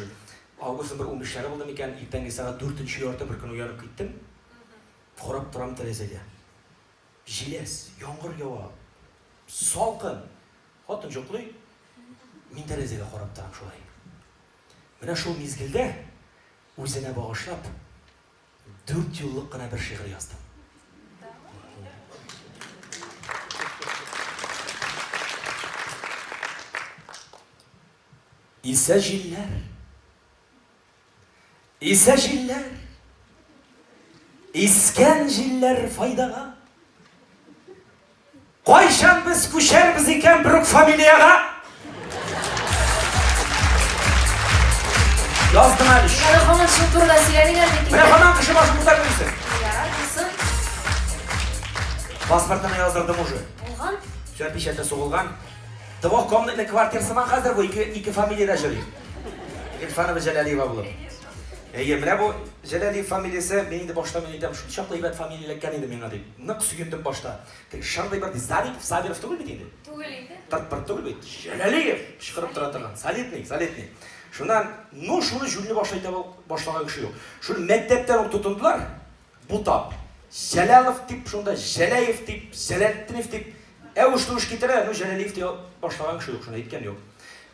Җыр. Августның бер унбишләре булды микән, иртәнге сәгать дүртенче ярты бер көн уянып киттем. Карап торам тәрәзәгә. Җиләс, яңгыр ява. Салкын. Хатын җоклый. Мин тәрәзәгә карап торам шулай. Менә шул мизгелдә үзенә багышлап дүрт юллык кына бер шигырь яздым. Исә җилләр. Исә җилләр. Искән җилләр файдага. Кайчан без күчәрбез икән бер үк фамилиягә? Яздым әле. Яры һаман шул турыда сөйләнегез бит. Менә һаман кеше башын күтәреп йөрсен. Ярар, булсын. Паспортны яздырдым уже. Булган. Все, печатьтә сугылган. Двух комнатный квартирасы ма хәзер бу ике ике фамилиядә җөри. Гилфанова Җәләлиева булып. Әйе, менә бу Җәләлиев фамилиясе, мин инде башта мин әйтәм, шул чаклы әйбәт фамилия эләккән иде миңа дип. Нык сөендем башта. Теге шырдый бер ди, Сабитов, Сабиров түгел бит инде. Түгел инде. Тырт-пырт түгел бит. Җәләлиев! Кычкырып тора торган. Солидный, солидный. Шуннан, ну, шуны җүнле башлый таба башлаган кеше юк. Шуны мәктәптән үк тотындылар. Бу тап. Җәлалов дип шунда Җәләев дип, Җәләлтдинев дип әвеш-тәвеш китерә, ну Җәләлиев дия башлаган кеше юк, шуны әйткән юк.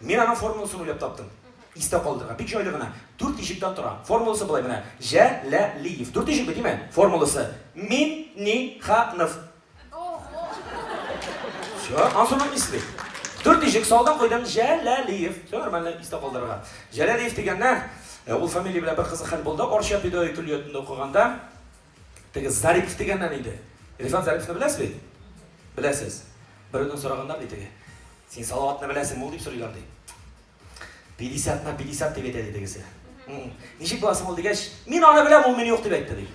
Мин аның формуласын уйлап таптым. Истә калдырырга. Бик җайлы гына. Дүрт иҗектан тора. Формуласы болай менә. Җәләлиев. Дүрт иҗекме, диме? Формуласы. Мин, ни, ха, нов. Все, Мансурның исле. Дүрт ишек салдың куйдың Җәләлиев. Все нормально, истә калдырырга. Җәләлиев дигәннән, э, ул фамилия белән бер кызык хәл булды. Орча педагогия көллиятендә укыганда теге Зарипов дигәннән иде. Рифат Зариповны беләсез бит? Беләсез. Берәүдән сораганнар ди теге. Син Салаватны беләсең, ул дип сорыйлар ди. Пятьдесятны пятьдесят дип әйтә, ди тегесе. Ничек буласың ул дигәч, мин аны беләм, ул мине юк дип әйтте, ди.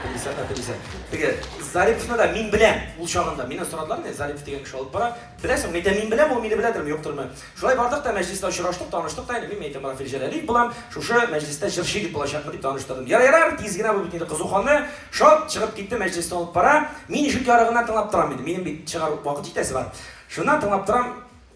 Пятьдесятна пятьдесят. Теге Зарифовны да мин беләм, ул чагында. Мине сорадылар, мин Зарифов дигән кеше алып бара. Беләсең, мин әйтәм, мин беләм, ул мине беләдерме, юктырмы. Шулай бардык та мәҗлистә очраштык, таныштык та, мин әйтәм, Рафил Җәләлиев булам, шушы мәҗлистә җырчы дип булачакмын дип таныштырдым. Ярар, ярар, тиз генә бу бит инде кызу ханны, шат чыгып китте, мәҗлистә алып бара. Мин ишек ярыгыннан тыңлап торам инде, минем бит чыгар вакыт җитәсе бар. Шуннан тыңлап торам,